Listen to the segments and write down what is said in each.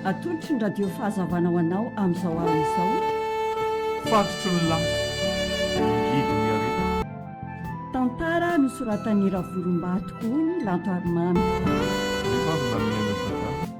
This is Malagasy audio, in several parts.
Atolotry ny Radio Fahazavana ho anao amin'izao alina izao. Fatotry ny lasa, mangidy ny aretina. Tantara nosoratan'i Ravolombato Ony Lanto Harimamy. Rehefa avy nanome an'i Dadà.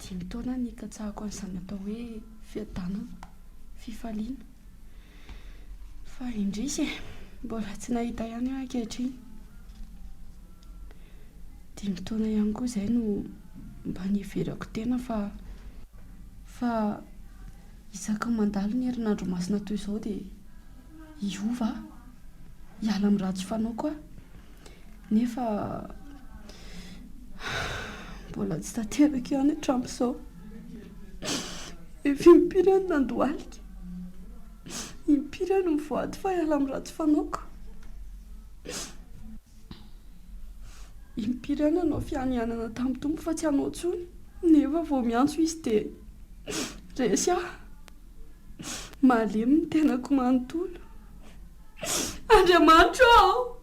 Dimy taona nikatsahako an'izany atao hoe fiadanana, fifaliana. Fa indrisy e, mbola tsy nahita ihany aho ankehitriny. Dimy taona ihany koa izay no mba niheverako tena fa fa isaky ny mandalo ny herinandro masina toy izao dia hiova aho, hiala amin'ny ratsy fanaoko aho. Nefa mbola tsy tanteraka ihany hatramin'izao. Efa impiry aho no nandohalika, impiry aho no mivoady fa hiala amin'ny ratsy fanaoko, impiry aho nanao fianianana tamin'ny Tompo fa tsy hanao intsony, nefa vao miantso Izy dia resy aho. Malemy ny tenako manontolo. Andriamanitro ô!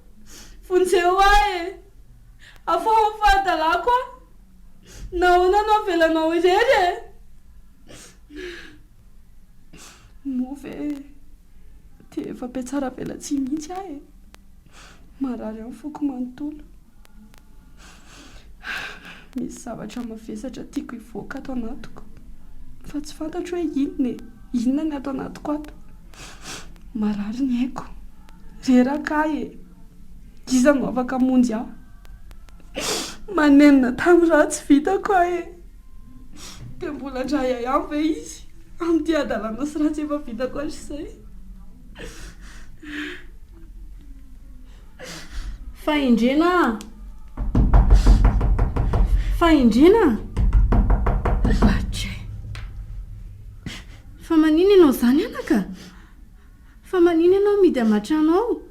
Vonjeo ahy e! Afaho ny fahadalako aho! Nahoana no avelanao irery e! Moa ve dia efa mpihatsaravelatsihy mihitsy aho e! Marary ny foko manontolo. Misy zavatra mavesatra tiako hivoaka ato anatiko fa tsy fantatro hoe inona e, inona ny ato anatiko ato. Marary ny aiko, reraka ahy e, iza no afaka hamonjy ahy? Manenina tamin'ny raha tsy vitako aho e, dia mbola handray ahy any ve izy amin'ity hadalana sy ratsy efa vitako hatrizay? Fahendrena a! Fahendrena a! Vake! Fa manina ianao izany anaka? Fa manina ianao midy am atrano ao?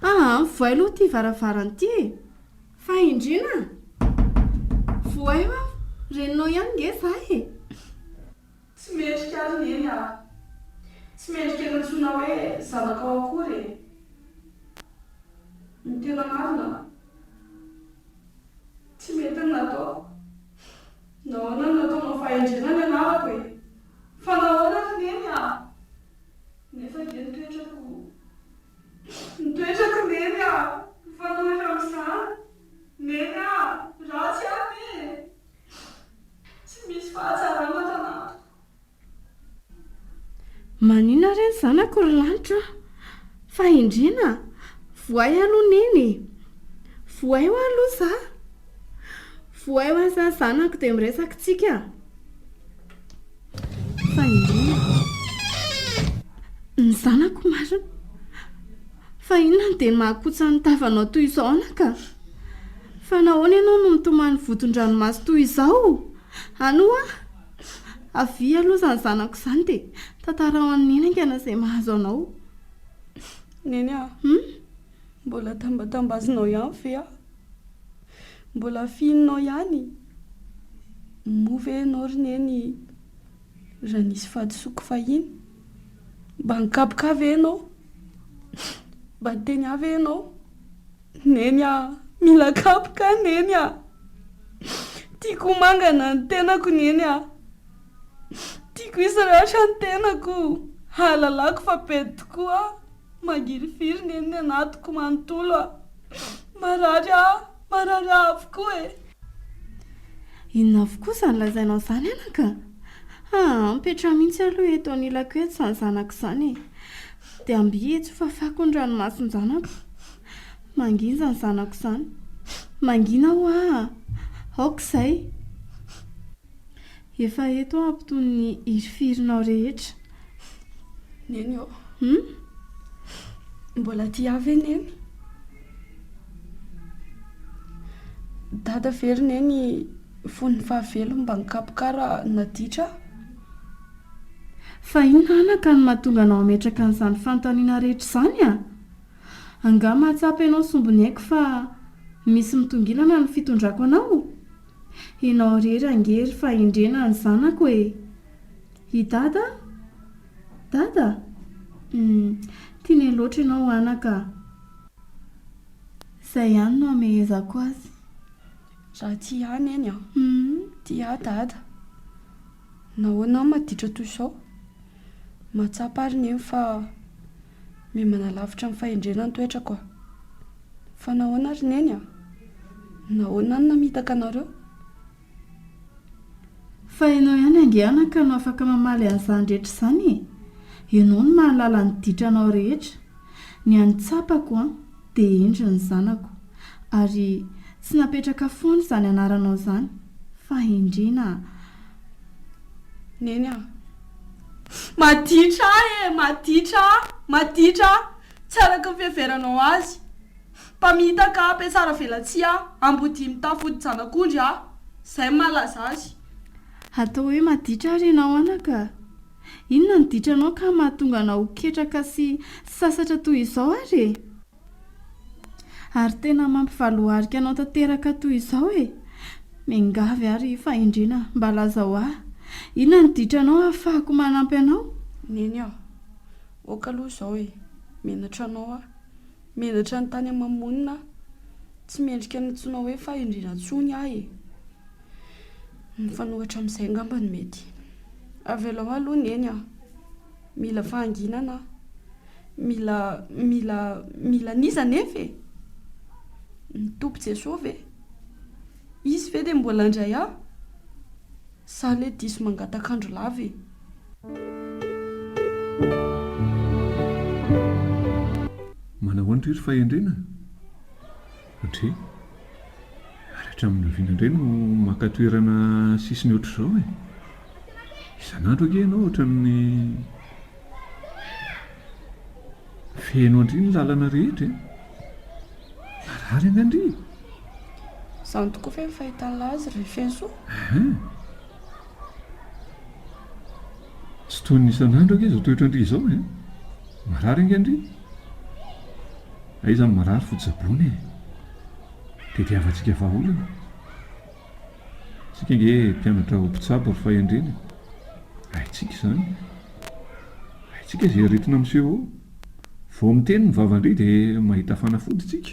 Aa! Mivohay aloha ity varavarana ity e! Fahendrena a! Vohay ho'aho, reninao ihany nge za e! Tsy mendrika ary neny aho. Tsy mendrika nantsoina hoe zanakao akory e. Ny tena marina, tsy mety ny nataoko. Nahoana no nataonao fahendrena ny anarako e? Fa nahoana ary neny a? Nefa ve ny toetrako, ny toetrako neny a, mifanohitra amin'izany? Neny a! Ratsy aho ve e? Tsy misy fahatsarana tanatiko. Manina re ny zanako ry lanitra a! Fahendrena a! Vohay aho aloha neny e! Vohay hoa aloha za! Vohay hoa za zanako dia miresaka tsika! Fahendrena a! Ny zanako marina! Fa inona no dia mahakotsa ny tavanao toy izao anaka? Fa nahoana ianao no mitomany vodin-dranomaso toy izao? Any ho'a! Avia aloha izany zanako izany dia tantarao an'i Neny haingana izay mahazo anao. Neny a! Hum? Mbola tambatambazinao ihany ve aho? Mbola fihininao ihany? Moa ve ianao ry Neny raha nisy fahadisoako fahiny? Mba nikapoka ahy ve ianao? Mba niteny ahy ve ianao? Neny a! Mila kapoka aho Neny a! Tiako ho mangana ny tenako Neny a! Tiako hisy ratra ny tenako, hahalalako fa pety tokoa aho. Mangirifiry neny ny anatiko manontolo a! Marary a! Marary a avokoa e! Inona avokoa izany lazainao izany anaka? Haa mipetraha mihitsy aloha eto anilako eto izany zanako izany e! Dia ambihijo ho fafako ny ranomason-janako. Mangina izany zanako izany. Mangina ho'a! Aoka izay. Efa eto aho mpitony ny hirifirinao rehetra. Neny ô. Hum? Mbola tia ahy ve Neny? Dada ve ry Neny fony fahavelony mba nikapoka ahy raha naditra aho? Fa inona anaka no mahatonga anao hametraka an'izany fanontaniana rehetra izany a? Angaha mahatsapa ianao sombiny haiko fa misy mitongilana ny fitondrako anao? Enao irery ange ry fahendrena ny zanako e! I Dada? Dada? Hum, tiany loatra ianao anaka a! Izay ihany no hamehezako azy. Raha tia ahy Neny a! Hum, tia ahy Dada. Nahoana aho maditra toy izao? Mahatsapa ary ny eny fa mihemanalavitra ny fahendrena ny toetrako aho. Fa nahoana ry Neny a? Nahoana no namitaka anareo? Fa ianao ihany ange anaka no afaka mamaly an'izany rehetra izany e! Ianao no mahalala ny ditranao rehetra. Ny an'ny tsapako an! Dia indry ny zanako. Ary tsy napetraka foana izany anaranao izany, fahendrena a. Neny a. Maditra aho e! Maditra a! Maditra a! Tsy araka ny fiheveranao azy. Mpamitaka a, mpiatsara velatsihy a, ambodia mitafy odi-janak'ondry a. Izay no mahalaza azy. Hatao hoe Maditra ary ianao anaka. Inona no ditranao ka mahatonga anao ho ketraka sy sasatra toy izao ary e? Ary tena mampivaloharika anao tanteraka toy izao e! Miangavy aho ry Fahendrena mba lazao ahy inona no ditranao hahafahako manampy anao? Neny a! Oka aloha izao e! Menatra anao aho. Menatra ny tany aman-monina aho. Tsy mendrika ny antsoinao hoe Fahendrena intsony aho e! Mifanohitra amin'izay angamba ny mety. Avelao ahy aloha neny a! Mila fahanginana aho. Mila mila mila an'iza anefa e? Ny Tompo Jesoa ve? Izy ve dia mbola handray ahy? Sa anie diso mangataka andro lava e? Manahoana toy ry fahendrena? Ndry. Ary hatramin'ny oviana indray no maka toerana sisiny ohatr'izao e? Isan'andro ange ianao ohatran'ny feno an-dry ny lalana rehetra e! Marary ange an-dry e! Izany tokoa ve ny fahitan'ilay azy ry Fenosoa? Ahaa. Tsy toy ny isan'andro ange izao toetran-dry izao e! Marary ange an-dry! Aiza ny marary fo tsaboina e! Tediavantsika vahaolana e! Isika ange mpianatra ho mpitsabo ary fahendrena e! Haintsika izany e! Haintsika izay aretina miseho eo! Vao miteny ny vavan-dry dia mahita fanafody isika!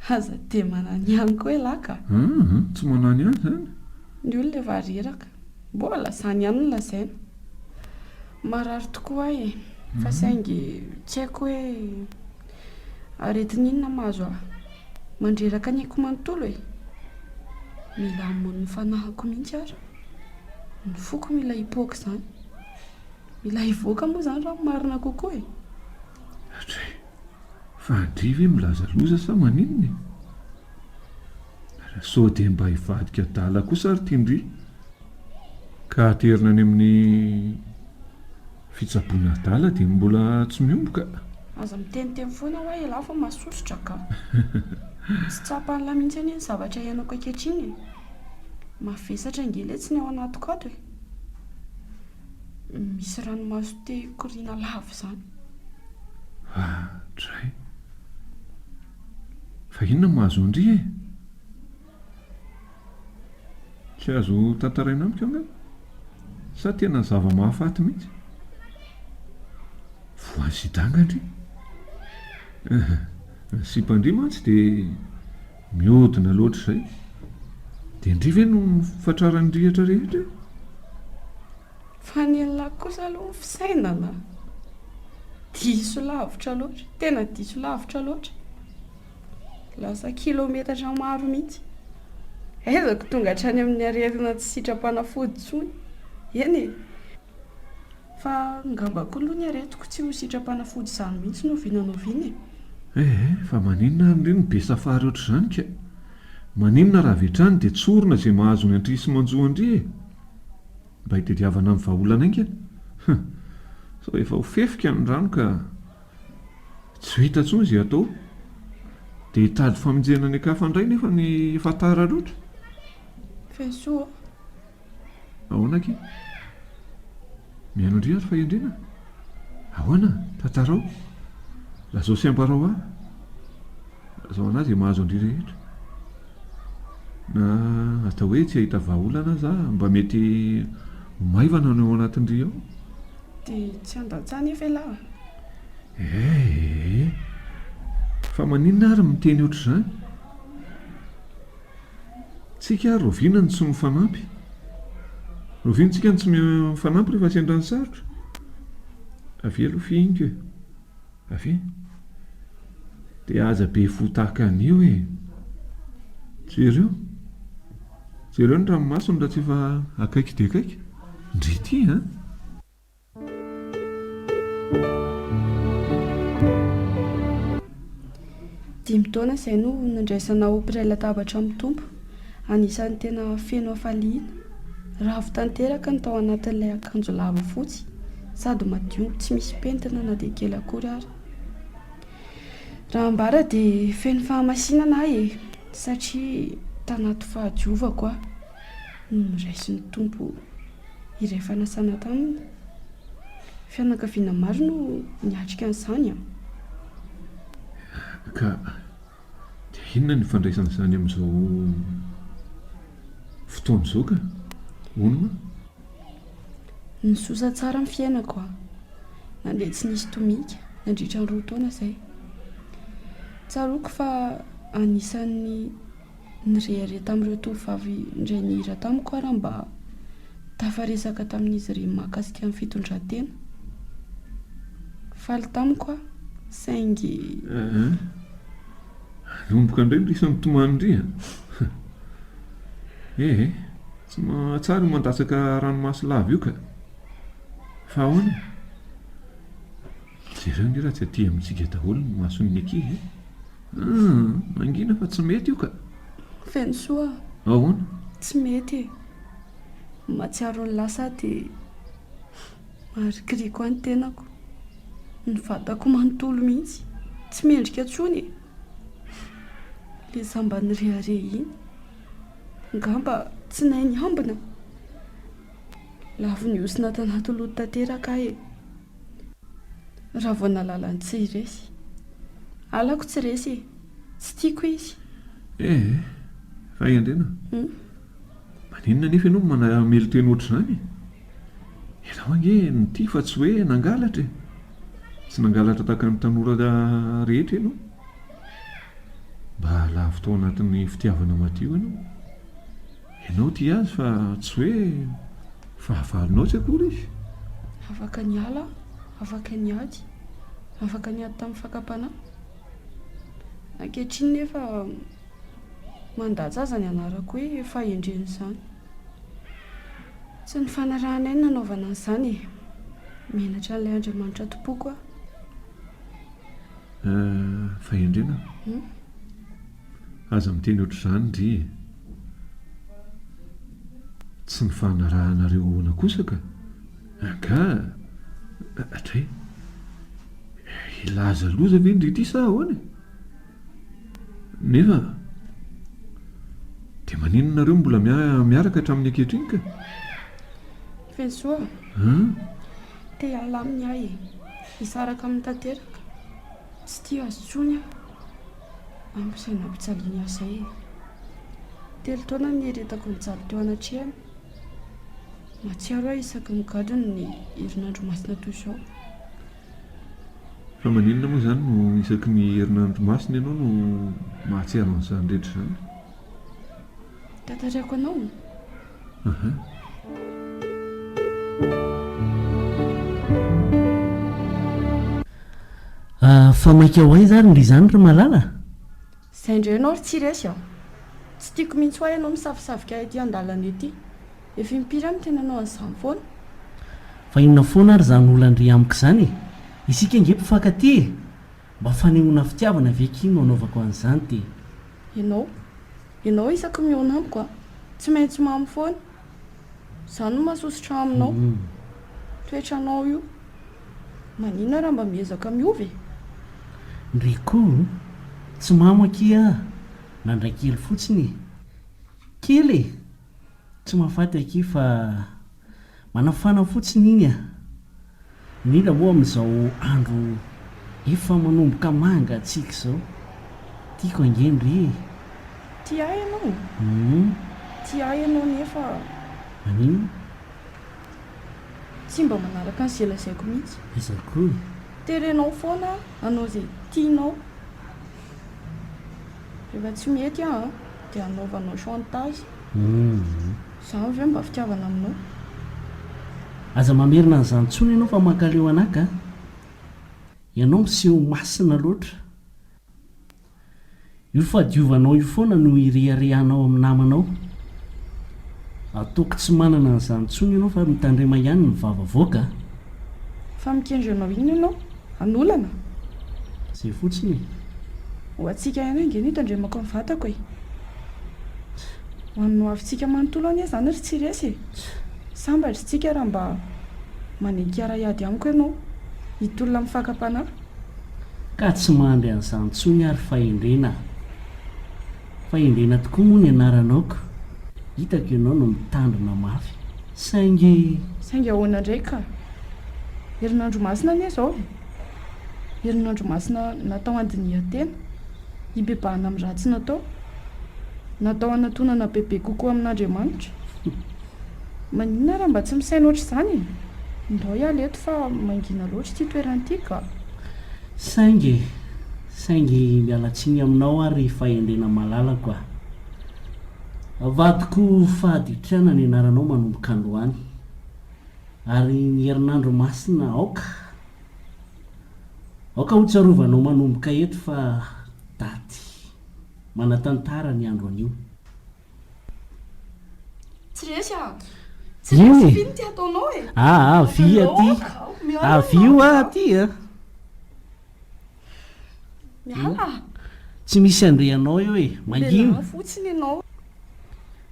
Aza dia manany ihany koa ialahy ka! Aa! Tsy manany ihany izany! Ny olona efa reraka! Mbola zany ihany no lazaina. Marary tokoa ahy e. Fa saingy tsy haiko hoe aretin'inona mahazo ahy. Mandreraka ny aiko manontolo e. Mila hamono fanahiko mihitsy ary. Ny foko mila hipoaka izany. Mila hivoaka moa izany raha ny marina kokoa e. Hatry, fa andria ve milaza loza sa maninona e? Sao dia mba hivadika adala kosa ry Tindri ka aterina any amin'ny fitsaboana adala dia mbola tsy miomboka? Aza miteniteny foana hoa ialahy fa masosotra ka! Tsy tsapan'ilahy mihitsy anie ny zavatra iainako ankehitriny e! Mavesatra ngeletsy ny ao anatiko ato e! Misy ranomaso te hikoriana lava izany. Vahadray. Fa inona no mahazo an-dry e? Tsy azo tantaraina amiko angamba. Sa tena zava-mahafaty mihitsy? Voan'ny sida angandry? Ehe, ny sipan-dry mantsy dia mihodina loatra izay. Dia ny dry ve no fatraran'ny rihatra rehetra e? Fa ny an'lah kosa aloha ny fisainana diso lavitra loatra, tena diso lavitra loatra, lasa kilometatra maro mihitsy, aiza ko tonga hatrany amin'ny arerina tsy sitram-panafody intsony, eny e! fa ngamba koa aloha ny aretiko tsy ho sitram-panafody izany mihitsy no oviana na oviana e! Eh eh, fa maninona ary indray no be safary ohatr'izany ka! maninona raha avy hatrany dia tsorina izay mahazo ny an-dry sy manjo an-dry e! Mba hitadiavana ny vahaolana haingana? Huh! Sao efa ho fefika ny rano ka tsy vita intsony izay atao? Dia hitady famonjena any an-kafa indray nefa ny efa tara loatra? Fiantsoa ô! Ahoana akia? Mihaino indray ary fahendrena? Ahoana? Tantarao? Lazao sy ambarao ahy! Lazao anà izay mahazo an-dry rehetra! Na atao hoe tsy hahita vahaolana aza aho, mba mety ho maivana ny ao anatin-dry ao. Dia tsy handatsa anefa ialahy a! Eehh! Fa maninona ary miteny ohatr'izany? Tsika ary rahoviana no tsy mifanampy? Rahoviana tsika no tsy mifanampy rehefa sendra ny sarotra? Avia aloha fihiniko e! Avy de aza be fo tahaka an'io e. Jereo. Jereo ny ranomasony raha tsy efa akaiky dia akaiky. Ndry ity a. Dimy taona izay no nandraisana ho mpiray latabatra amin'ny Tompo. Anisan'ny tena feno hafaliana. Ravo tanteraka ny tao anatin'ilay akanjo lava fotsy sady madio tsy misy pentina na dia kely akory ary. Raha ambara dia feno fahamasinana aho e, satria tanaty fahadiovako aho no noraisin'ny Tompo. iray fanasana taminy. Fianakaviana maro no niatrika an'izany an! Ka dia inona ny ifandraisana izany amin'izao fotoana izao ka? Hono ma? Nizosa tsara ny fiainako an! Nandeha tsy nisy tomika nandritra ny roa taona izay. Tsaroako fa anisan'ny Nirehareha tamin'ireo tovovavy indray nihira tamiko aho raha mba tafaresaka tamin'izy ireny mahakasika ny fitondran-tena. Faly tamiko aho, saingy. Aa! Nanomboka indray ny risan'ny tomany-ndry a! Ee e! Tsy mahatsara io mandatsaka ranomaso lava io ka! Fa ahoana? Jereo anie raha tsy aty amintsika daholo ny mason'ny ankizy e! Hum! Mangina fa tsy mety io ka! Fenosoa, Ahoana? tsy mety e! Mahatsiaro ny lasa dia maharikoriko ahy ny tenako, ny vatako manontolo mihitsy, tsy mendrika intsony e! Ilay izaho mba nirehareha iny, angamba tsy nahay niambina? Lavon'ny osona tanaty loto tanteraka aho e! Raha vao nahalala ny tsy resy. Halako tsy resy e! Tsy tiako izy. Eh! Ray Andriana. Hum. Maninona anefa ianao manamelo-teny ohatr'izany e? Ianao ange nitia fa tsy hoe nangalatra e! Tsy nangalatra tahaka ny tanora rehetra ianao. Mba lavo tao anatin'ny fitiavana madio ianao. Ianao tia azy fa tsy hoe fahavalonao tsy akory izy. Afaka niala aho, afaka niady, afaka niady tamin'ny fakam-panahy. Ankehitriny nefa mandatsa aza ny anarako hoe fahendren'izany. Tsy ny fanarahanay no nanaovana an'izany e. Menatra an'ilay Andriamanitra tompoiko aho. Fahendrena? Aza miteny ohatr'izany ndry e! Tsy ny fanarahanareo ahoana kosa ka! Angaha dray hilaza loza ve ndry ity sa ahoana e! Nefa dia maninona nareo mbola miaraka hatramin'ny ankehitriny ka! Fisoa a! Te hiala aminy aho e! Hisaraka aminy tanteraka! Tsy tia azy intsony aho! Amposaina ampijaly ny asa e! Telo taona nieritako nijaly teo anatrehany. Mahatsiaro aho isaky ny gadona ny herinandro masina toy izao. Fa maninona moa izany no isaky ny herinandro masina ianao no mahatsiaro an'izany rehetra izany? Tantarako anao. Fa maika ho aiza ary ndry izany ry Malala? Izay indray ianao ry Tsiresy a! Tsy tiako mihitsy hoa ianao misavosavoka ahy ety an-dalana ety. Efa impiry aho no tena nanao an'izany foana? Fa inona foana ary izany olan-dry amiko izany e? Isika ange mpifankatia e! Mba fanehoana fitiavana ve kin no anaovako an'izany te. Ianao? Ianao isaky mihaona amiko a. Tsy maintsy mamy foana. Zany no mahasosotra aminao. Toetranao io. Maninona raha mba miezaka miova e? Rico, tsy mamy akia a. Nandray kely fotsiny e. Kely e. Tsy mahafaty akia fa manafana fotsiny iny a! Mila moa amin'izao andro efa manomboka mangatsiaka izao. Tiako ange ny ry e! Tia ahy ianao? Hum. Tia ahy ianao nefa. Maninona? Tsy mba manaraka an'izay lazaiko mihitsy. Aiza koa e! Terenao foana aho hanao izay tianao. Rehefa tsy mety aho an, dia hanaovanao chantage. Izany ve mba fitiavana aminao? Aza mamerina an'izany intsony ianao fa mankaleo anaka an! Ianao miseho masina loatra. Io fahadiovanao io foana no ireharehanao amin'ny namanao. Ataoko tsy manana an'izany intsony ianao fa mitandrema ihany ny vava avoaka an! Fa mikendry anao inona ianao? An'olana? Zay fotsiny e! Ho antsika ihany ange no itandremako ny vatako e! Ho an'ny hoavintsika manontolo anie izany ry tsy resy e! Sambatra isika raha mba manenky hiara-hiady amiko ianao, hitolona amin'ny fakam-panahy. Ka tsy mandry an'izany intsony ary fahendrena a! Fahendrena tokoa moa ny anaranao ka. Hitako ianao no mitandrina mafy. Saingy. Saingy ahoana indray ka? Herinandro masina anie izao e! Herinandro masina natao handinihan-tena, hibebahana amin'ny ratsy natao, natao hanatonana bebe kokoa amin'Andriamanitra. Maninona ary mba tsy misaina ohatr'izany e? Ndao hiala eto fa mangina loatra ity toerana ity ka. Saingy e! Saingy miala tsiny aminao aho ry fahendrena malalako a! Avadiko fahaditriana ny anaranao manomboka androany ary ny herinandro masina aoka aoka hotsarovanao manomboka eto fa daty manatantara ny andro anio. Tsy resy an! Tsy resy aty ny tiataonao e! Avia aty! Avio aty a! Miala! Tsy misy handre anao eo e! Mangina! Miala fotsiny ianao!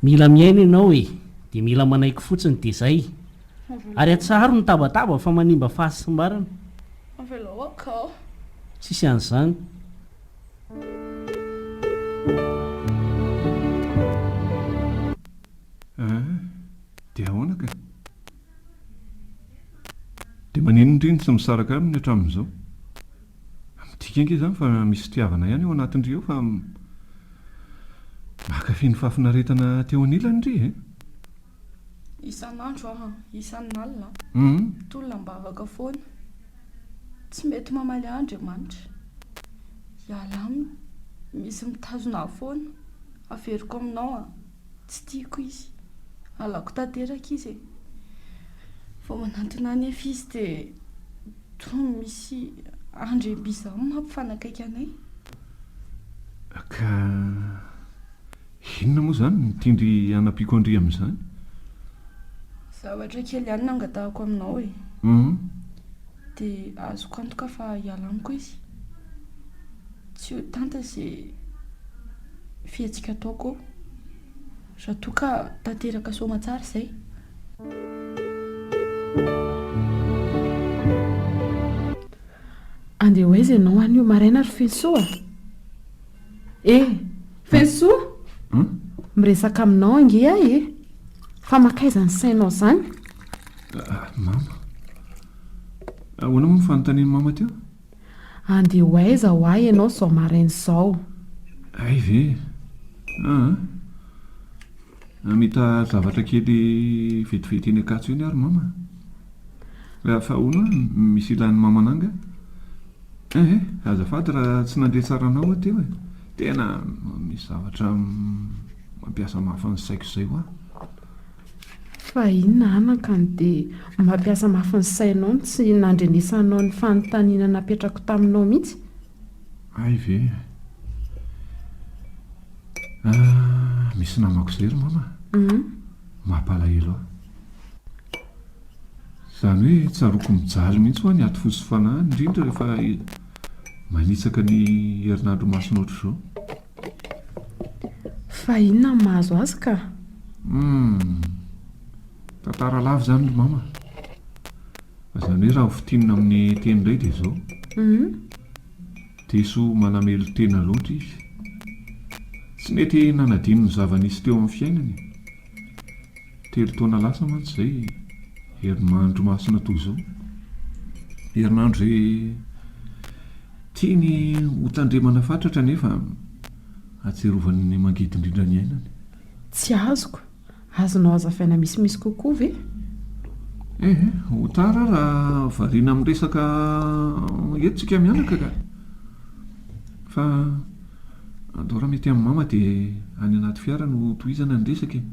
Mila miaina ianao e! Dia mila manaiky fotsiny dia izay! Ary atsaharo ny tabataba fa manimba fahasimbarana! Avelao akao! Tsisy an'izany! Ahh! Dia ahoana ka? Dia maninona indry no tsy misaraka aminy hatramin'izao? Midika ange izany fa misy fitiavana ihany ao anatindry ao fa mankafy ny fahafinaretana aty ao anilany ry e! Isan'andro an, isan'alina an, tolona am-bavaka foana. Tsy mety mamaly ahy Andriamanitra. Ialahy aminy, misy mitazona ahy foana. Averiko aminao an. Tsy tiako izy. Halako tanteraka izy e. Vao manantona ahy nefa izy dia toa misy andry bizarre mampifanakaiky anay. Ka inona moa izany no tian-dry hanampiako an-dry amin'izany? Zavatra kely ihany no angatahako aminao e. Dia azoko antoka fa hiala amiko izy. Tsy ho tanta izay fihetsika ataoko raha toa ka tanteraka soamatsara izay. Andeha ho aiza ianao anio maraina ry Fensoa? Eh, Fensoa! Hmm? Miresaka aminao ange ahy eh. Fa mankaiza ny sainao izany? Ah, ah, mama. Ahoana moa ny fanontanian'i mama teo? Andeha ho aiza ho ahy ianao izao maraina izao? Hay ve? Aa! Hamita zavatra kely vetivety eny Ankatso eny ary mama a! Raha fa ahoana no misy ilàn'i mama anà angaha? Ehe, azafady raha tsy nandre tsara anao aho teo e! Tena misy zavatra mampiasa mafy ny saiko izay hoa! Fa inona anakany dia mampiasa mafy ny sainao no tsy nandrenesanao ny fanontaniana napetrako taminao mihitsy? Hay ve eh. Ah, misy namako izay ry mama a. Mampalahelo ahy. Izany hoe tsaroako mijaly mihitsy hoa ny aty fo sy fanahy, indrindra rehefa manitsaka ny herinandro masina ohatr'izao. Fa inona no mahazo azy ka? Hum, tantara lava izany ry mama. Izany hoe raha ho fintinina amin'ny teny indray dia izao. Hum. Diso manamelo-tena loatra izy. Tsy nety nanadino ny zava-nisy teo amin'ny fiainany. Telo taona lasa mantsy izay e! Herinandro masina toa izao. Herinandro izay tiany hotandremana fatratra nefa atsiarovany ny mangidy indrindra ny ainany. Tsy azoko. Azonao hazavaina misimisy kokoa ve? Eh, ho tara ary raha variana amin'ny resaka eto tsika mianaka ka! Fa andao raha mety amin'i Mama dia any anaty fiara no tohizana ny resaka e!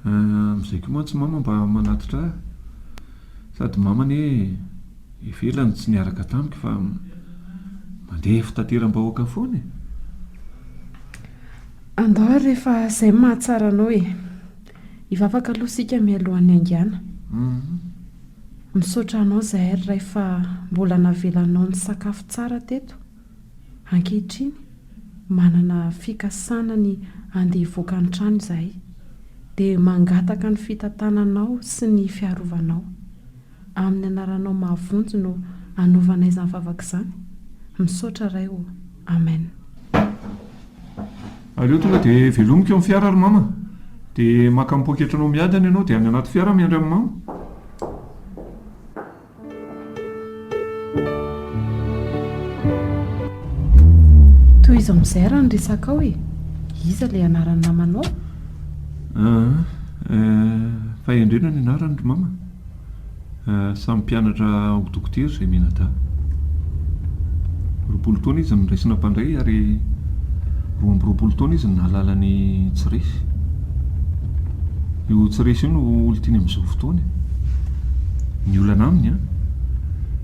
Amizay koa mantsy mama mba manatitra ahy sady mama anie ivela no tsy niaraka tamiko fa mandeha fitateram-bahoaka foana e! Andao ary rehefa izay no mahatsara anao e! Hivavaka aloha isika mialohan'ny haingana. Misaotra anao zahay ry Ray fa mbola navelanao nisakafo tsara teto. Ankehitriny, manana fikasana ny handeha hivoaka ny trano izahay, dia mangataka ny fitantananao sy ny fiarovanao. Amin'ny anaranao mahavonjy no anaovana izany vavaka izany. Misaotra Ray ô. Amen. Aleo tonga dia velomiko amin'ny fiara ry Mama. Dia maka ny poketranao miadana ianao dia any anaty fiara miandry an'i Mama. Tohizo amin'izay ary ny resakao e. Iza ilay anaran'ny namanao? Ah, eh, Fahendrena ny anarany ry mama. Eh, samy mpianatra ho dokotera izay mianadahy. Roapolo taona izy no niraisina mpandray ary roa amby roapolo taona izy no nahalala ny tsy resy. Io tsy resy io no olon-tiany amin'izao fotoana e. Ny olana aminy an!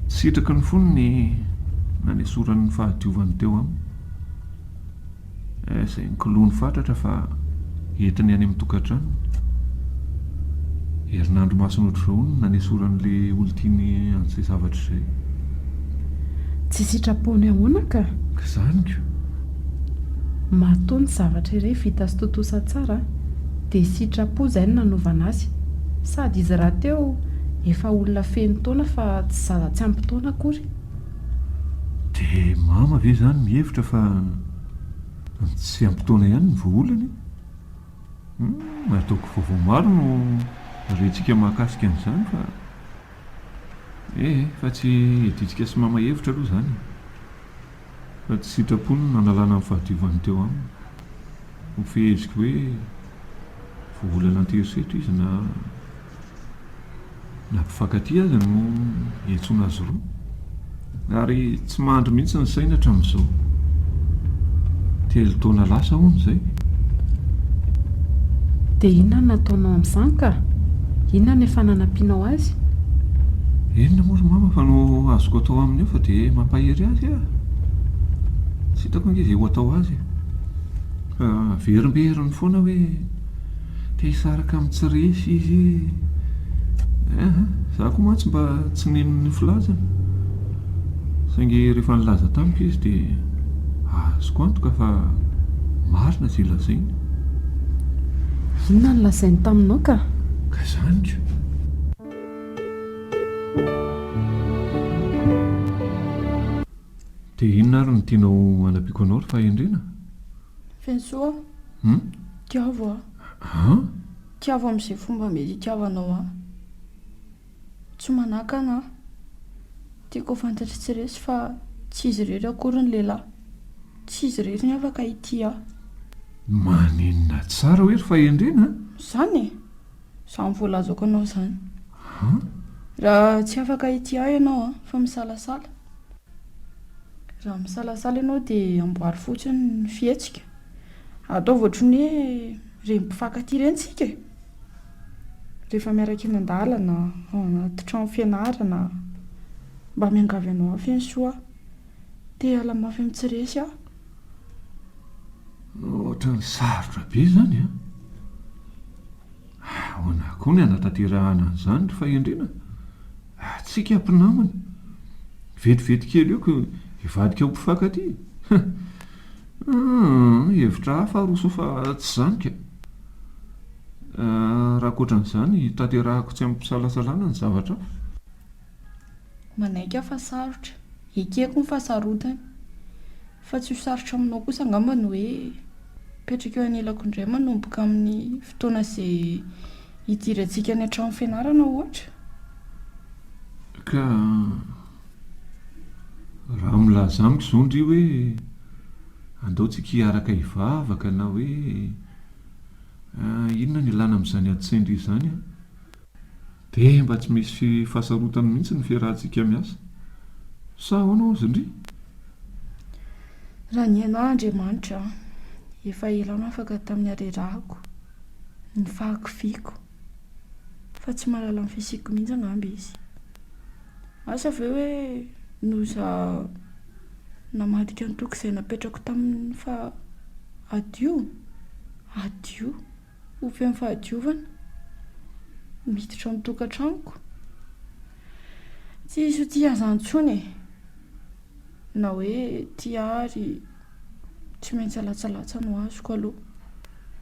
Sitraky ny fony ny nanesorany ny fahadiovany teo aminy. Eh, izay nkolony fatratra fa entiny any amin'ny tokantranony. Herinandro masina ohatr'izao no nanesorany ilay olon-tiany an'izay zavatra izay. Tsy sitrapon'ny ahoana ka? Izany ko! Matoa ny zavatra iray vita sy tontosa tsara dia sitrapo izay no nanaovana azy. Sady izy rahateo efa olona feno taona fa tsy zaza tsy ampy taona akory. Dia mama ve izany mihevitra fa ny tsy ampy taona ihany no voaolana e? Humm ataoko vaovao maro no rentsika mahakasika an'izany fa ee fa tsy iadintsika sy mama hevitra aloha izany e. Raha tsy sitrapony ny nanalana ny fahadiovany teo aminy, ho feheziko hoe vao olana an-terisetra izy na na mpifankatia aza no iantsoana azy roa. Ary tsy mandry mihitsy ny saina hatramin'izao. Telo taona lasa hono izay. Dia inona no nataonao amin'izany ka? Inona ny efa nanampianao azy? Inona moa ry mama fa no azoko atao aminy eo fa dia mampahery azy e! Tsy hitako ange izay ho atao azy e! Fa averimberiny foana hoe te hisaraka amin'ny tsy resy izy e! Eeh, izaho koa mantsy mba tsy nino ny filazany. Saingy rehefa nilaza tamiko izy dia azoko antoka fa marina izay lazainy. Inona no lazainy taminao ka? Ka izany ka! Dia inona ary no tianao hanampiako anao ry Fahendrena? Fiantsoa aho. Hum? Tiavo aho. An? Tiavo amin'izay fomba mety itiavanao ahy. Tsy manakana aho. Tiako ho fantatry tsy resy fa tsy izy irery akory ny lehilahy. Tsy izy irery ny afaka hitia ahy. Maninona tsara hoe ry fahendrena an? Izany e! Izany voalazako anao izany. An? Raha tsy afaka hitia ahy ianao an, fa misalasala. Raha misalasala ianao dia amboary fotsiny ny fihetsika. Ataovy ohatry ny hoe ireny mpifankatia ireny isika e! Rehefa miaraka eny an-dalana, ao anaty trano fianarana, mba miangavy anao aho Fiansoa, te hiala mafy amin'ny tsy resy aho. Ohatran'ny sarotra be izany an! Ahoana koa ny hanatanterahana an'izany ry fahendrena? Antsika mpinamana, vetivety kely eo koa hivadika ho mpifankatia. Humm hevitra hafa aroso fa tsy izany ka! Raha ankoatran'izany tanterahako tsy amim-pisalasalana ny zavatra hafa. Manaiky aho fa sarotra. Ekeko ny fahasarotany. Fa tsy ho sarotra aminao kosa angamba ny hoe mipetraka eo anilako indray manomboka amin'ny fotoana izay hidirantsika any an-trano fianarana ohatra? Ka. Raha milaza amiko izao ndry hoe andao tsika hiaraka hivavaka na hoe inona no ilana amin'izany ady sain'dry izany an! dia mba tsy misy fahasarotana mihitsy ny fiarahantsika miasa. Sa ahoana hozy ndry? Raha ny ahy Andriamanitra an! efa ela aho nafaka tamin'ny harerahako, ny fahakiviako. fa tsy mahalala ny fisiako mihitsy angamba izy. Asa ve hoe noho za namadika ny toky izay napetrako tamin'ny faha adio? Adio? Ho feno fahadiovana? Miditra ao an-tokantranoko? Tsy hisy ho tia an'izany intsony e! Na hoe tia ary. Tsy maintsy alatsalatsa no azoko aloha.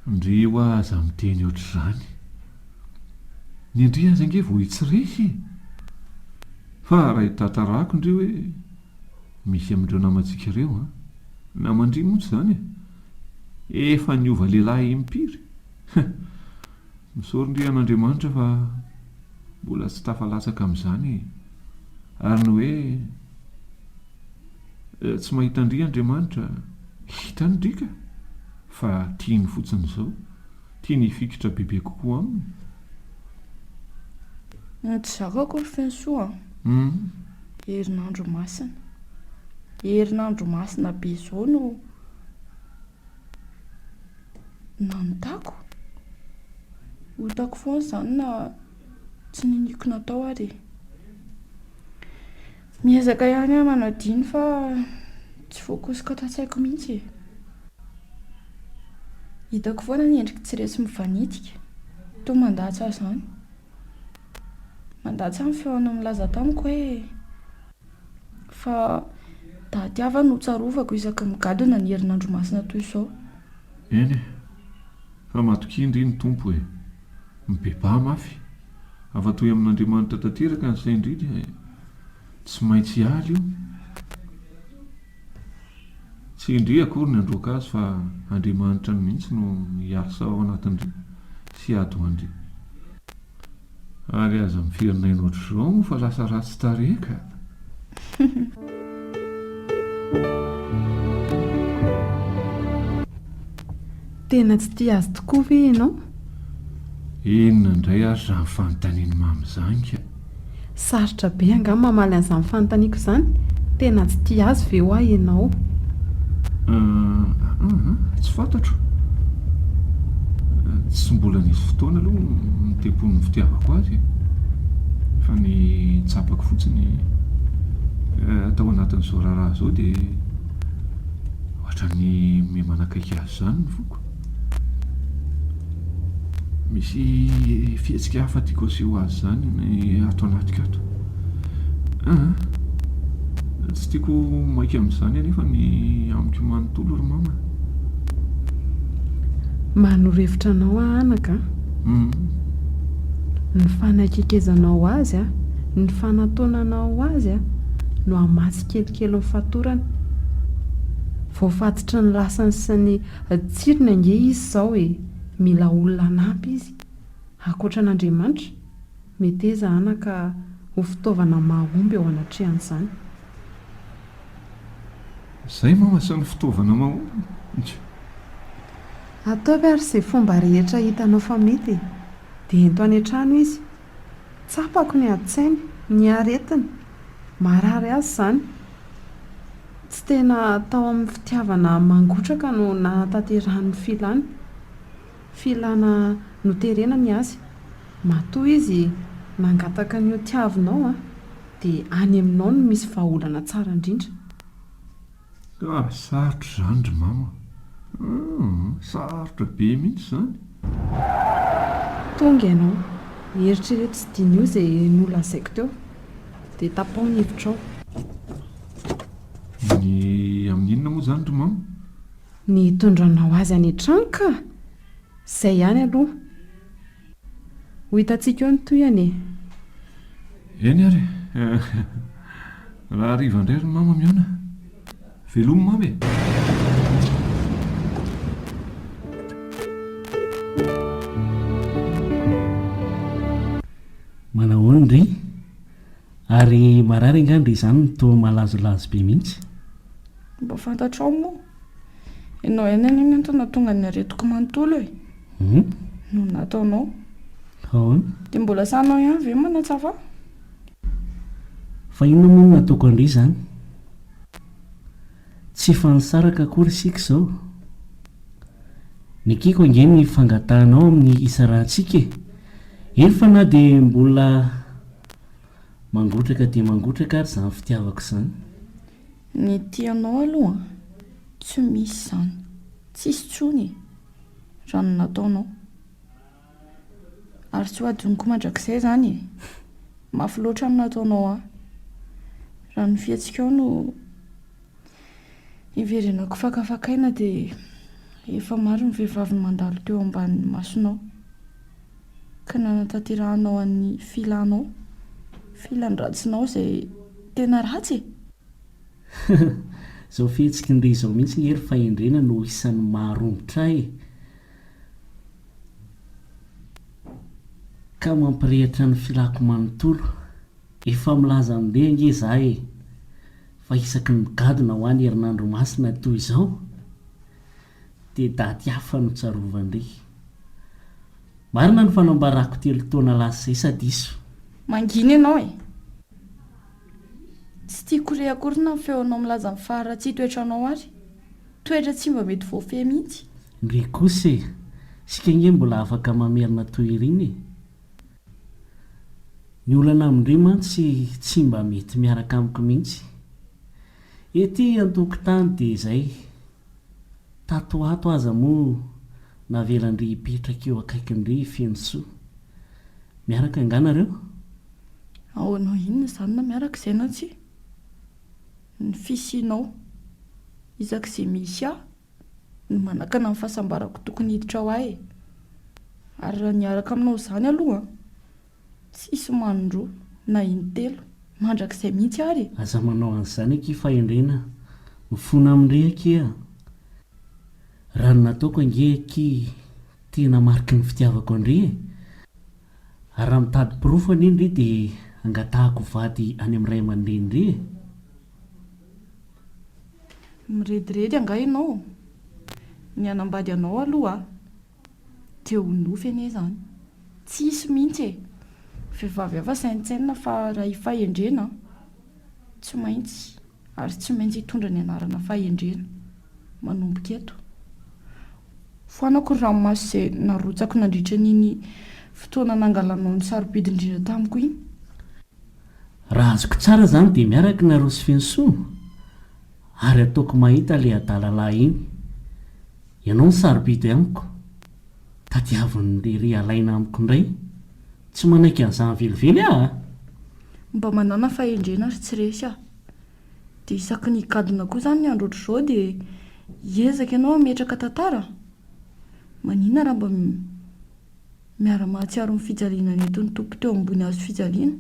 Ndry hoa aza miteny ohatr'izany. Ny an-dry aza ange vao hitsirihy e! Fa raha hitantarako ndry hoe misy amin'ireo namantsika ireo an! Naman-dry montsy izany e! Efa niova lehilahy impiry! Heh! Misaory ndry an'Andriamanitra fa mbola tsy tafalatsaka amin'izany e! Ary ny hoe. Tsy mahita an-dry Andriamanitra? Hitany ndry ka! Fa tiany fotsiny izao. Tiany hifikitra bebe kokoa Aminy. Eny tsy zakako ry Fensoa a! Herinandro masina. Herinandro masina be izao no nanontako. Otako foana izany na tsy niniako natao ary e! Miezaka ihany aho manadino fa tsy voakosoka ato an-tsaiko mihitsy e. Hitako foana ny endriky tsy resy mivanitika, toa mandatsa izany. Mandatsa ny feony milaza tamiko hoe fa daty hafa no tsarovako isaky ny migadona ny herinandro masina toy izao. Eny e, fa matokia ndry ny Tompo e. Mibebaha mafy. Afa-toy amin'Andriamanitra tanteraka ny sain-dry dia tsy maintsy hiala io. Tsy indry akory ny handroaka azy fa Andriamanitra mihitsy no hiasa ao anatin-dry sy hiady ho an-dry. Ary aza miferinaina ohatr'izao moa fa lasa ratsy tarehy ka! Tena tsy tia azy tokoa ve ianao? Inona indray ary izany fanontanian'i Mamy izany ka? Sarotra be angaha ny mamaly an'izany fanontaniako izany? Tena tsy tia azy ve hoa ianao? Ah, ah, tsy fantatro. Tsy mbola nisy fotoana aloha nitempo ny fitiavako azy e. Fa ny tsapako fotsiny tao anatin'izao raharaha izao dia. Ohatran'ny miha manakaiky azy izany ny foko. Misy fihetsika hafa tiako aseho azy izany ny ato anatiko ato. Ah, tsy tiako maika amin'izany anefa ny amiko manontolo ry mama. Manoro hevitra anao aho anaka a. Hmm. Ny fanakekezanao azy a, ny fanatonanao azy a no hamatsy kelikely ny fatorany. Voafatotry ny lasany sy ny tsirony ange izy izao e! Mila olona hanampy izy. Ankoatra an'Andriamanitra, meteza anaka ho fitaovana mahomby eo anatrehan'izany. Izay no asan'ny fitaovana mahomby. Ataovy ary izay fomba rehetra hitanao fa mety e! Dia ento any an-trano izy Tsapako ny adin-tsainy, ny aretiny. Marary azy izany. Tsy tena tao amin'ny fitiavana mangotraka no nahatanterahany ny filany. Filana noterena ny azy. Matoa izy nangataka ny hotiavinao dia any aminao no misy vahaolana tsara indrindra. Ka sarotra izany ry mama a! Sarotra be mihitsy izany. Tonga ianao, eritrereto sy diniho izay nolazaiko teo, dia tapaho ny hevitrao. Ny amin'ny inona moa izany ry mama? Ny hitondranao azy any an-trano kah! Izay ihany aloha. Ho hitantsika eo ny tohiny e! Eny ary e! Raha hariva indray ry mama mihaona. Velomy mama e! Manahoana ry Ary marary angaha dia izany no toa malazolazo be mihitsy? Mba fantatrao moa. Ianao ihany anie mantsy no nahatonga ny aretiko manontolo e. Hum? No nataonao. Ahoana? Dia mbola sahinao ihany ve manatsara ahy? Fa inona moa no nataoko an-dry izany? Tsy efa nisaraka akory isika izao? Nekeko ange ny fangatahanao amin'ny hisarahantsika e. Eny fa na dia mbola. Mangotraka dia mangotraka ary izany fitiavako izany. Ny tianao aloha an! Tsy misy izany. Tsisy intsony e! Raha ny nataonao. Ary tsy ho adinoko mandrakizay izany e! Mafy loatra ny nataonao ahy. Raha ny fihetsikao no iverenako fakafakaina dia efa maro ny vehivavy mandalo teo ambanin'ny masonao. ka nanatanterahanao an'ny filanao, filan-dratsinao izay tena ratsy e! Izao fihetsiky ny re izao mihitsy nge ry fahendrena no isan'ny maharomotra ahy ka mampirehitra ny filako manontolo. Efa milaza andeha nge izaho e! Fa isaky ny migadona ho any herinandro masina toy izao? dia daty hafa no tsarovan-dry. Marina ny fanambarako telo taona lasa izay sa diso? Mangina ianao e! Tsy tiako re akory na ny feonao milaza ny faharatsian toetranao ary. Toetra tsy mba mety voafehy mihitsy. Ndry kosa e! Isika ange mbola afaka mamerina toy iriny e! Ny olana amin-dry mantsy tsy mba mety miaraka amiko mihitsy. Ety an-tokotany dia izay, Tato ho ato aza moa navelan-dry hipetraka eo akaikin-dry i Fenosoa. Miaraka angaha nareo? Ahoana ho inona izany na miaraka izay na tsia? Ny fisianao, isak'izay misy ahy, no manakana ny fahasambarako tokony hiditra ho ahy e! Ary raha niaraka aminao izany aloha, Tsisy manondroa na intelo mandrakizay mihitsy ary e! Aza manao an'izany akia fahendrena mifona aminy re akia a! Raha ny nataoko ange aky tena mariky ny fitiavako an-dry e! Ary raha mitady porofo anie ndry dia angatahako vady any amin'ny ray aman-drenin-dry e! Mirediredy angaha ianao? Ny hanambady anao aloha aho Dia ho nofy anie izany. Tsy hisy mihitsy e! Vehivavy hafa saintsainina fa raha i Fahendrena tsy maintsy ary tsy maintsy hitondra ny anarana Fahendrena manomboka eto. Foanako ny ranomaso izay narotsako nandritra an'iny fotoana nangalanao ny sarobidy indrindra tamiko iny. Raha azoko tsara izany dia miaraka i Narosofinsoa ary ataoko mahita ilay adala lahy iny. Ianao no sarobidy amiko, tadiavin'ny lery alaina amiko indray, tsy manaiky an'izany velively aho a! Mba manàna fahendrena ry tsy resy a! Dia isaky ny gadona koa izany ny andro ohatr'izao dia hiezaka ianao hametraka tantara? Manina raha mba miara-mahatsiaro ny fijaliana nentin'ny Tompo teo ambony hazo fijaliana?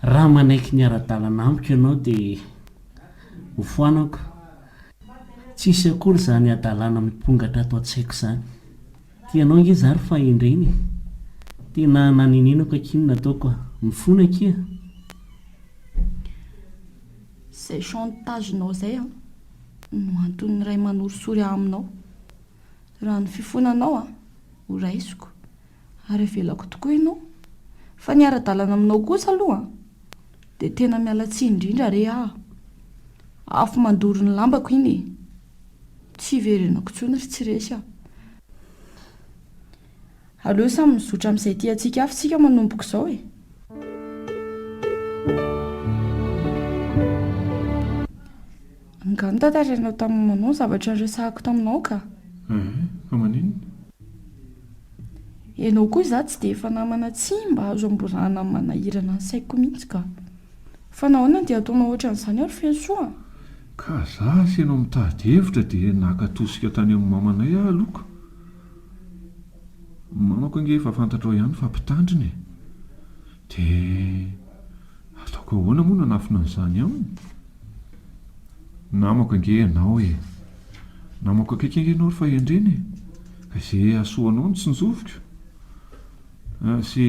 Raha manaiky ny ara-dalana amiko ianao dia hofoanako. Tsisy akory izany hadalana mipongatra ato an-tsaiko izany. Tianao ange za ry fahendrena e! Tena nanenenako akia ny nataoko a! Mifona akia a! Izay chantage-nao izay an, no anton'ny Ray manorisory ahy aminao. Raha ny fifonanao an, ho raisiko. Ary avelako tokoa ianao. Fa ny ara-dalana aminao kosa aloha dia tena miala tsiny indrindra re aho. Afo mandoro ny lambako iny e. Tsy hiverenako intsony ry tsy resy a. Aleo samy mizotra amin'izay tiantsika avy isika manomboka izao e. Angaha notantarainao tamin'ny mamanao ny zavatra niresahako taminao ka? Ehe, fa maninona? Ianao koa izaho tsy dia efa namana tsy mba azo amborahana amin'ny manahirana ny saiko mihitsy ka! Fa nahoana no dia ataonao ohatran'izany ary feno soa? Ka za sy ianao mitady hevitra dia naka tosika tany amin'ny mamanay aho aloha ka! Ny mamako ange efa fantatrao ihany fa mpitandrina e! Dia ataoko ahoana moa no hanafina an'izany aminy? Namako ange ianao e! Namako akaiky ange ianao ry fahendrena e! Ka izay hahasoa anao no tsinjoviko sy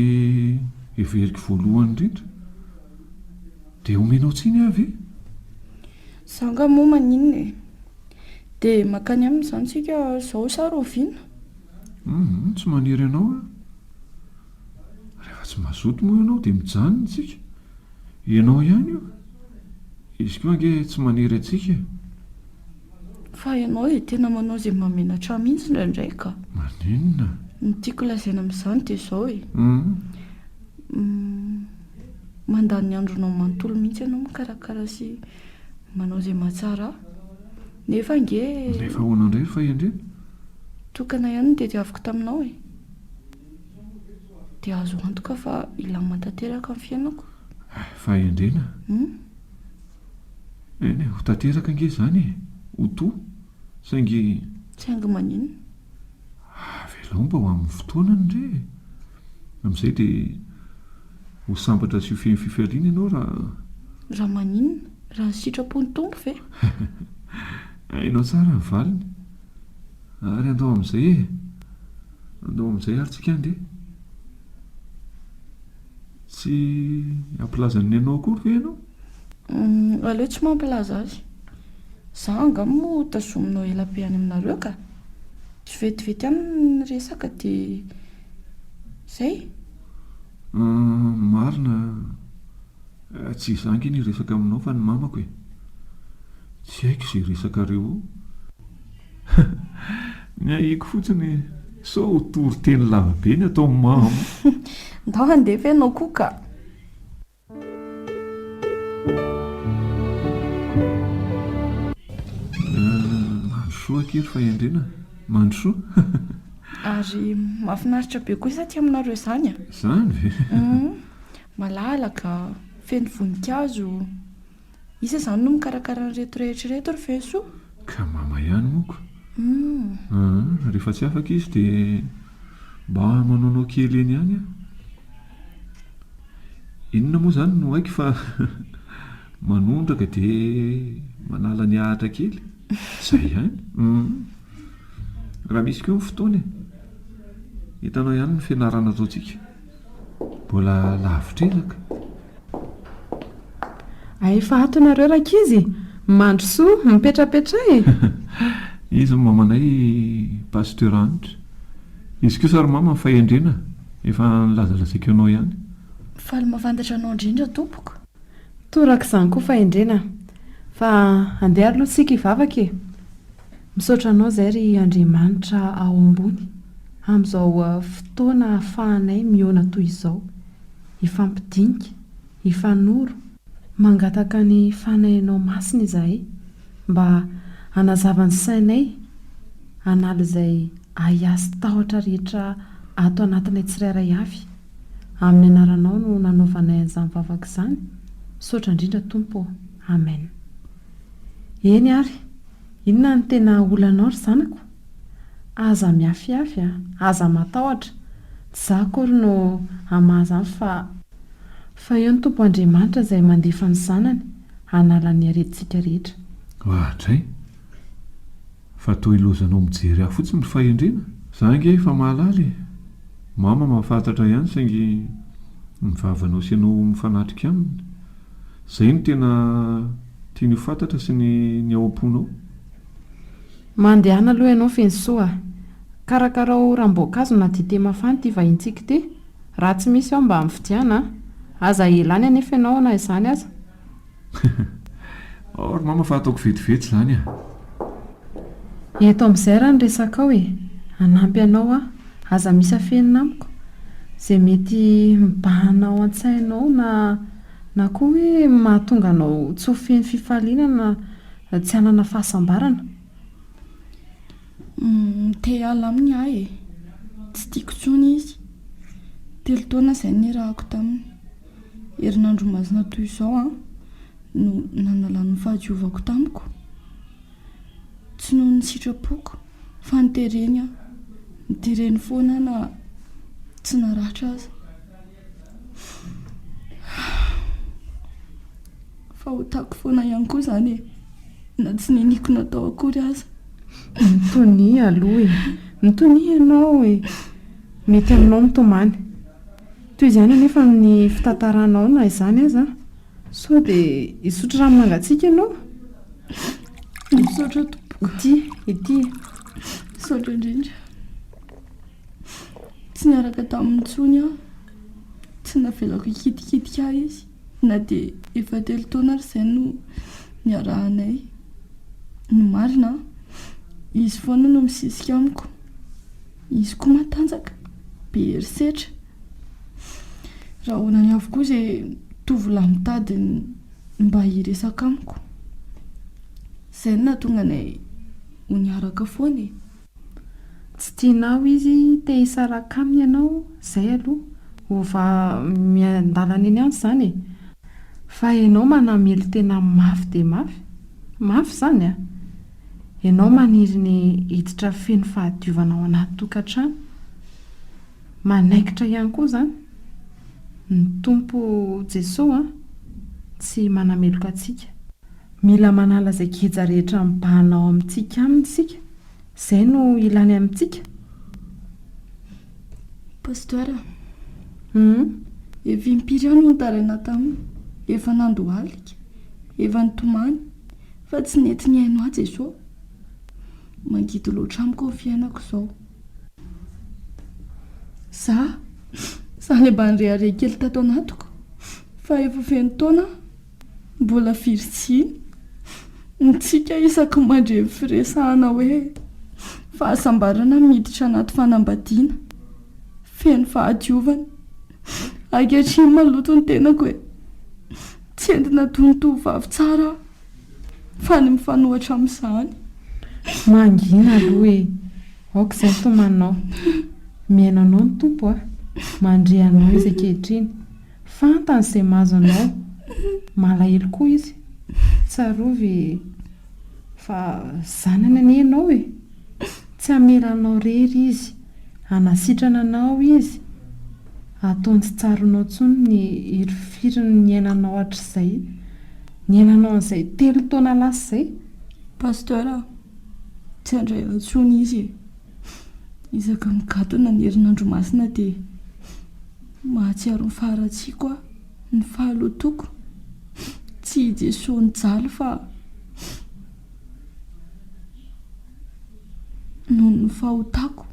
heveriko voalohany indrindra. Dia homenao tsiny ahy ve? Izaho angaha moa maninona e! Dia mankany aminy izany isika izao sa rahoviana? Humm, tsy maniry anao aho. Rehefa tsy mazoto moa ianao dia mijanona isika. Ianao ihany io. Izy koa ange tsy manery antsika e. Fa ianao dia tena manao izay mahamenatra ahy mihitsy indraindray ka. Maninona? Ny tiako lazaina amin'izany dia izao e. Mandany ny andronao manontolo mihitsy ianao mikarakara sy manao izay mahatsara ahy. Nefa ange. Nefa ahoana indray ny fahendrena? Tokana ihany no tadiaviko taminao e. Dia azo antoka fa hilamina tanteraka ny fiainako. Fahendrena? Hum? Eny e, ho tanteraka ange izany e, ho to, saingy. Saingy maninona? Avelao mba ho amin'ny fotoanany re e. Amin'izay dia ho sambatra sy ho feno fifaliana ianao raha. Raha maninona? Raha ny sitrapon'ny Tompo ve? Hainao tsara ny valiny. Ary andao amin'izay e! Andao amin'izay ary tsika andeha. Tsy hampilaza ny nenao akory ve ianao? Hum, aleo tsy mampilaza azy. Za anga moa tazominao ela be any aminareo ka! Tsy vetivety any ny resaka de zay. Hum, marina, tsy izaho ange ny hiresaka aminao fa ny mamako e! Tsy haiko izay resakareo ao. Ny ahiako fotsiny sao ho toriteny lavabe ny atao mamo. Ndao handeha ve ianao koa ka? Mandrosoa akery fa hendrena. Mandrosoa. Ary mahafinaritra be koa izany aty aminareo izany a. Izany ve? Malalaka, feno voninkazo. Iza izany no mikarakara an'ireto rehetra ireto ry Fensoa? Ka mama ihany moka. Hum. Rehefa tsy afaka izy dia mba manaonao kely eny ihany aho. Inona moa izany no haiko fa manondraka dia manala ny ahatra kely. Izay ihany. Hum. Raha misy koa ny fotoana e. Hitanao ihany ny fianarana ataontsika. Mbola lavitr'iraka. Ay fa ato nareo rankizy e! Mandrosoa, mipetrapetra e! Iza mamanay i Pasteur Hanitra? Izy kosa ary mama ny fahendrena efa nilazalazaiko anao ihany. Faly mavantatra anao indrindra tompoko. Toraka izany koa fahendrena. Fa andeha ary aloha tsika hivavaka e. Misaotra anao izay ry Andriamanitra ao ambony amin'izao fotoana ahafahanay mihaona toy izao, hifampidinika, hifanoro, mangataka ny Fanahinao Masina izahay mba hanazava ny sainay hanala izay ahiahy sy tahotra rehetra ato anatinay tsirairay avy, amin'ny Anaranao no nanaovanay an'izany vavaka izany, misaotra indrindra Tompo ô! Amen. Eny ary, inona no tena olanao ry zanako? Aza miafiafy a! Aza matahotra! Tsy za akory no hamaha izany fa. Fa eo ny Tompo Andriamanitra izay mandefa ny Zanany hanala ny aretintsika rehetra. Oadray! Fa toa ilozanao mijery ahy fotsiny ry Fahendrena? Za ange efa mahalala e! Mama mahafahatratra ihany saingy ny vavanao sy ianao mifanatrika aminy. Zay no tena tiany ho fantatra sy ny ny ao am-ponao. Mandehana aloha ianao Fensoa a! Karakarao ranom-boankazo na dite mafana ity vahintsika ity, raha tsy misy ao mba mividiana a! Aza elany anefa ianao na izany aza Aory mama fa ataoko vetivety izany ah. Eto amin'izay raha ny resakao e! Hanampy anao aho. Aza misy afenina amiko. Izay mety mibahana ao an-tsainao na na koa hoe mahatonga anao tsy ho feno fifaliana na tsy hanana fahasambarana. Te hiala aminy aho e! Tsy tiako intsony izy. Telo taona izay no niarahako taminy. Herinandro masina toy izao aho no nanalany ny fahadiovako tamiko, tsy noho ny sitrapoko fa nitereny aho, nitereny foana aho na tsy naratra aza. Fahotako foana ihany koa izany e, na tsy niniako natao akory aza. Mitonia aloha e, mitonia ianao e, mety aminao ny tomany. Toy izany anefa ny fitantaranao na izany aza. Sao dia hisotro rano mangatsiaka ianao? Misaotra tompoko. Ity, ity. Misaotra indrindra. Tsy niaraka taminy intsony aho. Tsy navelako hikitikitika ahy izy na dia efa telo taona ary izay no niarahanay. Ny marina an, izy foana no misisika amiko. Izy koa matanjaka, be herisetra. Rahonany avokoa izay tovolahy mitady ny mba hiresaka amiko. Izay no nahatonga anay ho niaraka foana e. Tsy tianao izy te hisaraka aminy ianao, izay aloha. Ova miandalana eny an izany e. Fa ianao manamely tena mafy dia mafy. Mafy izany an! Ianao maniry ny hiditra feno fahadiovana ao anaty tokantrano. Manaikitra ihany koa izany. Ny Tompo Jesoa tsy manameloka antsika. Mila manala izay geja rehetra mibahana ao amintsika aminy isika. Izay no ilany amintsika. Pasteur a. Humm. Efa impiry aho no nitaraina taminy. Efa nandohalika. Efa nitomany. Fa tsy nety nihaino ahy Jesoa. Mangidy loatra amiko ny fiainako izao. Za, za ilay mba nirehareha kely tato anatiko fa efa feno taona aho mbola virjiny. Mitsiky isaky ny mandre ny firesahana hoe fahasambarana miditra anaty fanambadiana. Feno fahadiovana. Ankehitriny maloto ny tenako e. Tsy entina toy ny tovovavy tsara aho fa ny mifanohatra amin'izany. Mangina aloha e! Aoka izay tomanao. Mihaino anao ny Tompo a! Mandria anao Izy ankehitriny. Fantany izay mahazo anao. Malahelo koa Izy. Tsarovy fa zanany anie ianao e! Tsy hamela anao rery izy. Hanasitrana anao izy. Hataony tsy tsaronao intsony ny hirifirin'ny niainanao hatrizay. Niainanao an'izay telo taona lasa izay. Pasteur a! Tsy handray ahy intsony izy e! Isaka migadona ny herinandro masina dia mahatsiaro ny faharatsiako aho, ny fahalotoako. Tsy i Jesoa nijaly fa. noho ny fahotako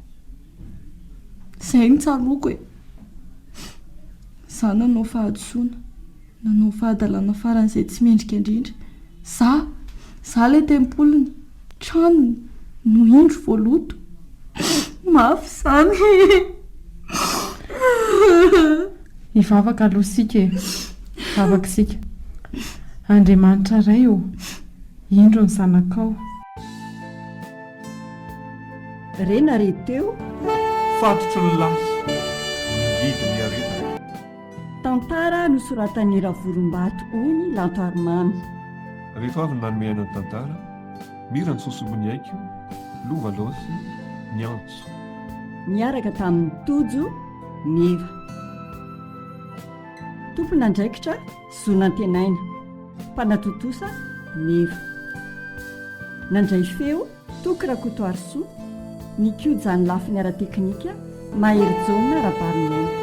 zay no tsaroako e za nanao fahadisoana nanao fahadalana faran'izay tsy mendrika indrindra za za le tempoliny tranony no indro vao loto mafy zany Hivavaka aloha isika e! Vavaka isika. Andriamanitra Ray ô! Indro ny zanakao. Re na re teo. Fatotry ny lahy mangidy ny aretina. Tantara nosoratan'i Ravolombato hoy ny Lantarimamy. Rehefa avy nanome aina ny tantara, mira ny sosobon'ny aiko, lova laosy, ny antso. Niaraka tamin'i Tojo. Meva. Tompon'andraikitra zo nantenaina, mpanatontosa, Meva. Nandray feo, Toky Rakotoarisoa, nikoja ny lafiny ara-teknika, Mahery Jaona Rabariniaina.